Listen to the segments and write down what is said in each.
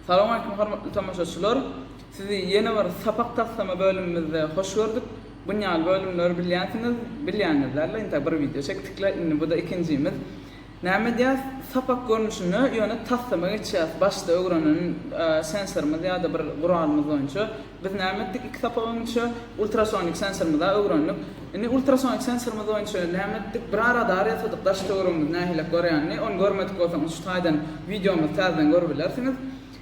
Salowmaleýkim hormatly tomaşaçylar! Sizi ýene bir sapak taslama bölümimizde hoş gördük. Bun ýaly bölümleri bilýänsiňiz, bilýäňiz dälde, inta bir wideo çekdikle, indi bu-da ikinjimiz. Näme edýäs? Sapak görnüşinde, ýöne taslama geçýäs, başda öwrenen sensorymyz ýa-da bir guralymyz boýunça. Biz näme etdik iki sapak öňünçä? Ultrasonik sensorymyza öwrendik. Indi ultrasonik sensorymyz boýunça näme etdik? Bir a radar ýasadyk, daş töweregimiz nähilek görýänini, ony görmedik bolsaňyz şu taýdan wideomyzy täzeden görüp bilersiňiz.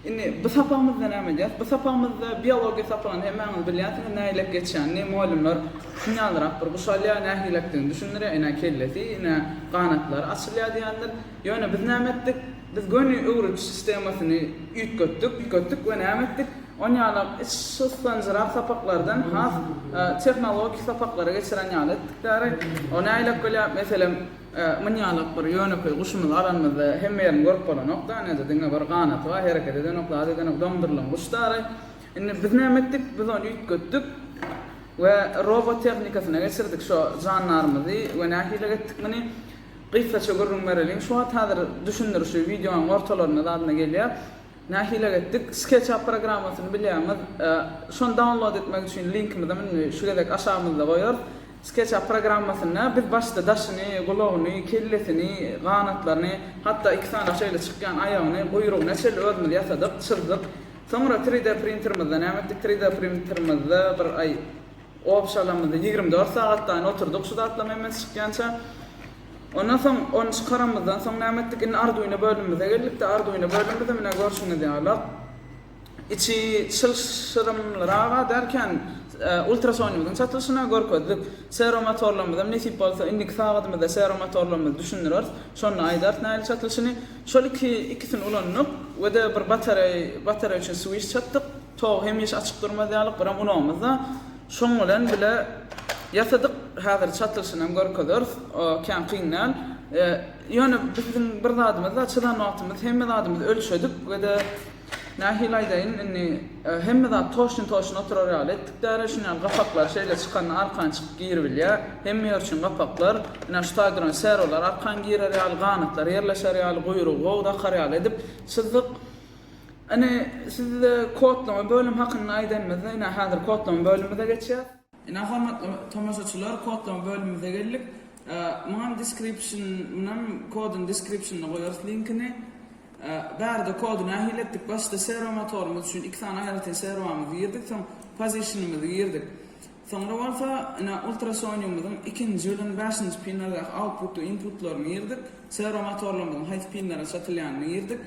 Indi bu sapagymyzda näme edýäs? Bu sapagymyzda biologiýa sapagyny hemmäňiz bilýänsiňiz nähilek geçýänini, mugallymlar synýalyrak bir guş alýar, nähilekdigini düşündirýär, ine kellesi, ine ganatlary açylýar diýendir. Ýöne biz näme etdik? Biz göni öwrediş sistemasyny üýtgetdik, üýtgetdik we näme etdik? On ýala şyssanjyrak sapaklardan has tehnologik sapaklara geçiren ýaly etdik däri. O nägilek bolýar? Meselem, myn ýalak bir ýönekeý guşumyzy alanymyzda hemme ýerini görüp bolanok da, nede diňe bir ganaty bar, hereket edenok, zat edenok, doňdurylan guş däri. Indi biz näme etdik? Biz ony üýtgetdik we robot tehnikasyna geçirdik şo jandarymyzy we nähilek etdik muny? Gysgaça gürrüň bereliň. Şu wagt häzir düşündirişi wideonyň ortalarynda zadyna gelýär. Nähilek etdik? SketchUp programmasyny bilýäňiz. Şony download etmek üçin linkimizem indi şu gezek aşagymyzda goýarys. SketchUp programmasynda biz başda daşyny, gulagyny, kellesini, ganatlaryny, hatda iki sany şeýle çykýan aýagyny, guýrugyna çenli özümiz ýasadyk, çyzdyk. Soňra 3D printerimizde näme etdik? 3D printerimizde bir aý. Obşalamyzy ýigrimi dört sagatlaýyn oturdyk şu zatlaryň hemmesi çykýança. Ondan soň ony çykaranymyzdan soň näme etdik? Indi Arduino bölümimize geldik-de, Arduino bölümimiz hem ine görşüňiz ýaly içi çylşyrymlyraga derken ultrasounymyzyň çatylyşyna görkezdik. Seromotorlarymyzy hem nesip bolsa indiki sagadymyzda seromotorlarymyzy düşündireris. Şonda aýdarys nähili çatylyşyny. Şol iki ikisini ulandyk we-de bir batareý batareý üçin swiş çatdyk. Togy hemişe açyk durmaz ýaly gyran ulagymyz-da şoň bilen bile ýasadyk. Häzir çatylyşyny hem görkezeris. Kän kyn däl. Ýöne biziň bir zadymyz-da, çyzan wagtymyz hemme zadymyzy ölçedik we-de, nähili aýdaýyn, indi hemme zat toşun-toşun oturar ýaly etdik däri. Şuny ýaly gapaklary şeýle çykanda arkan çykyp giribilýär. Hemme ýer üçin gapaklar. Ine, şu taý duran serolar arkan girer ýaly, ganatlar ýerleşer ýaly, guýrugy gowy dakar ýaly edip çyzdyk. Ine, size kodlama bölüm hakynda aýdanymyzda, ine, häzir kodlama bölümimize geçýäs. Ine, hormatly tomaşaçylar, kodlama bölümimize geldik. Muňam description, munam koduň description-yny goýarys linkini. Bärde kody nähili etdik? Başda serwo motorymyz üçin iki sany aýratyn serwomyzy girdik, soň position-ymyzy girdik. Soňra bolsa, ine, ultrasoniumyzyň ikinji ýylyň bäşinji pinlerindäki output we inputlaryny girdik. Serwo motorlarymyzyň haýsy pinlere çatylýanyny girdik.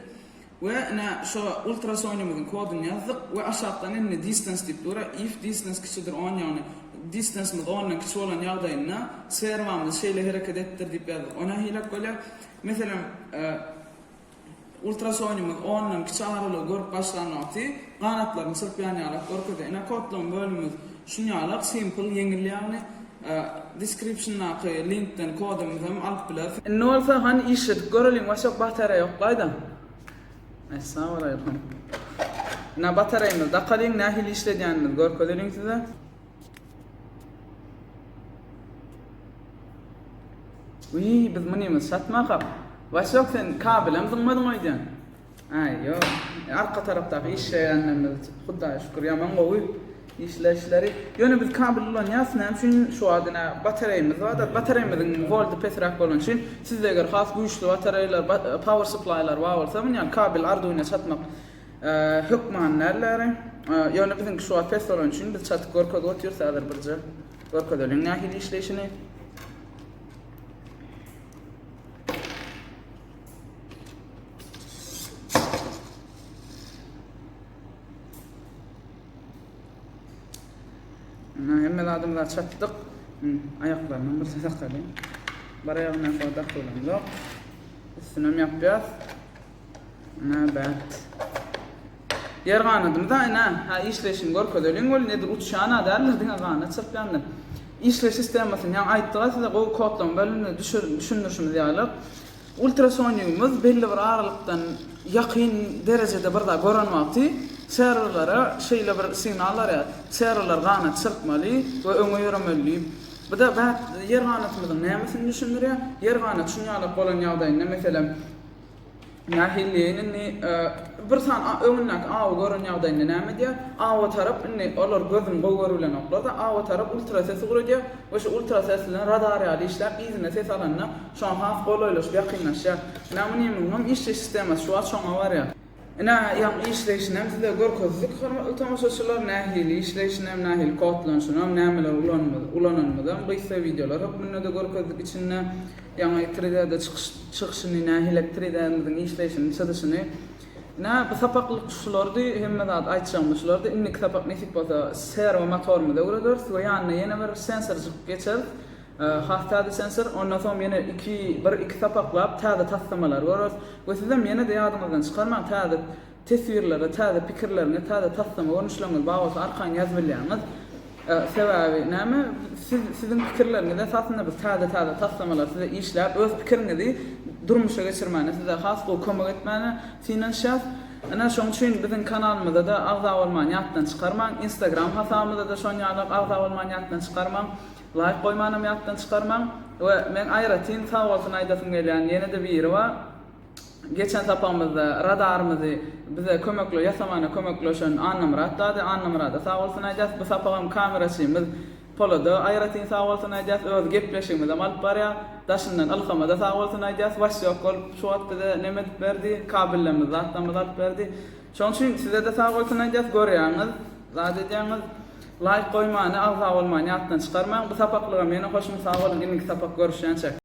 We ine şo ultrasonymyzyň kodyny ýazdyk we aşakdan indi distance diýip dur, if distance kiçidir on ýagny distancymyz ondan kiçi bolan ýagdaýynda serwamyz şeýle hereket etdir diýip ýazdyk. O nähilek bolýar? Meselem, ultrasonymyz ondan kiçi aralygy görüp başlan wagty ganatlaryny çyrpýan ýalak görkezýär. Ine kodlaýyn bölümimiz Şunýalak simple ýeňil ýagny descriptiondaky linkden kodyňyzy hem alyp bilersiň. Indi bolsa hany işledip göreliň başak batareýa ýok gaýdam. Essalamualeýkum. Ina batareýamyzy dakalyň nähili işledýänimizi görkezeliň size. Wiý biz munymyzy satmakak. Başak sen kabelem zyňmadyň öýdýän. Aý ýok. Arka tarapdaky işleýänlerimiz Hudaýa şükür ýaman gowy işle işleris. Ýöne biz kabel ulanýas näme üçin şu wagt ine batareýamyz bardyr. Batareýamyzyň wolty pesräk bolany üçin sizde eger has güýçli batareýalar power supplylar bar bolsa muny ýaly kabel arduino çatmak hökmany däldir. Ýöne biziňki şu wagt pes bolany üçin biz çatyp görkezip otyrys häzir birje görkezeliň nähili işleýşini. Ana hemme zadymyzy çatdyk. Aýaklaryndan bir sakaly. Bir aýagyna kodak bilen yok. Üstüne mi yapýas? Ana bärt. Ýer ganadymyz-a ine, hä işleýşini görkezeliň weli, nedir uçýan-a däldir, diňe ganat çyrpýandyr. Işleýiş sistemasyny ýaňy aýtdyg-a size, gowy kodlaryň bölüminde düşündirişimiz ýaly, ultrasonigimiz belli bir aralykdan ýakyn derejede bir zat gören wagty serwerlere şeýle bir signal barýar, serwerler ganat çyrpmaly we öňe ýöremeli diýip. Bu-da bäh, ýer ganatymyzyň nämesini düşündirýär? Ýer ganat çuňňalak bolan ýagdaýynda, meselem, Nähiliýin indi bir san öňündäki awy gören ýagdaýynda näme edýär? Awa tarap indi olar gözüni gowy görübilenoklar-da, awa tarap ultrasesi guradýar we şu ultrases bilen radar ýaly işläp, yzyna ses alanda şoňa has golaýlaşyp, ýakynlaşýar. Näme-niýemiňem işleýiş sistemasy şu wagt şoňa barýar. Ine, ýaňky işleýşinem size görkezdik, hormatly tomaşaçylar. Nähili işleýşinem, nähili kodlanyşynam, nämeler ulanymyz, ulananymyzam gysga wideolar hökmünde-de görkezdik. Içinde ýaňy tride'de çykyş, çykyşyny, nähili-de tride'miziň işleýşini, çyzyşyny. Ine, bu sapaklyk şulardy, hemme zat aýtjagymyz şulardy. Indiki sapak nesip bolsa, serwo motorymyzy öwrederis we ýanyna ýene bir sensorjyk geçeris. Hah, täze sensor, ondan soň ýene iki, bir-iki sapaklap täze taslamalary göreris. We sizem ýene-de ýadyňyzdan çykarmaň, täze teswirlere, täze pikirleriňiz, täze taslama görnüşleriňiz bar bolsa arkaýyn ýazyp bilýäňiz. Sebäbi näme, siz, siziň pikirleriňiz esasynda biz täze-täze taslamalary size işläp, öz pikiriňizi durmuşa geçirmäne size has gowy kömek etmäne synanyşýas. Ine, şoň üçin biziň kanalymyza-da agza bolmany ýatdan çykarmaň. Instagram hasabymyza-da şon ýalak agza bolmany ýatdan çykarmaň. Laýk goýmanam ýatdan çykarmaň we meň aýratyn sag bolsun aýdasym gelýän ýene-de biri bar. Geçen sapagymyzda radarymyzy bize kömekle ýasamana kömekleşen Annamyrat dady, Annamyrada sag bolsun aýdýas. Bu sapagam kameraçymyz Polada aýratyn sag bolsun aýdýas. Özi gepleşigimizem alyp barýar. Daşyndan Ylhamada sag bolsun aýdýas. Waş ýok bolup şu wagt bize neme edip berdi, kabellerimizi zatlamyzy alyp berdi. Şoň üçin sizede sag bolsun aýdýas görýäňiz zat edýäňiz laýk goýmany agza bolmany ýatdan çykarmaň bu sapaklygam ýene hoşum sag boluň indiki sapak görüşýänçä.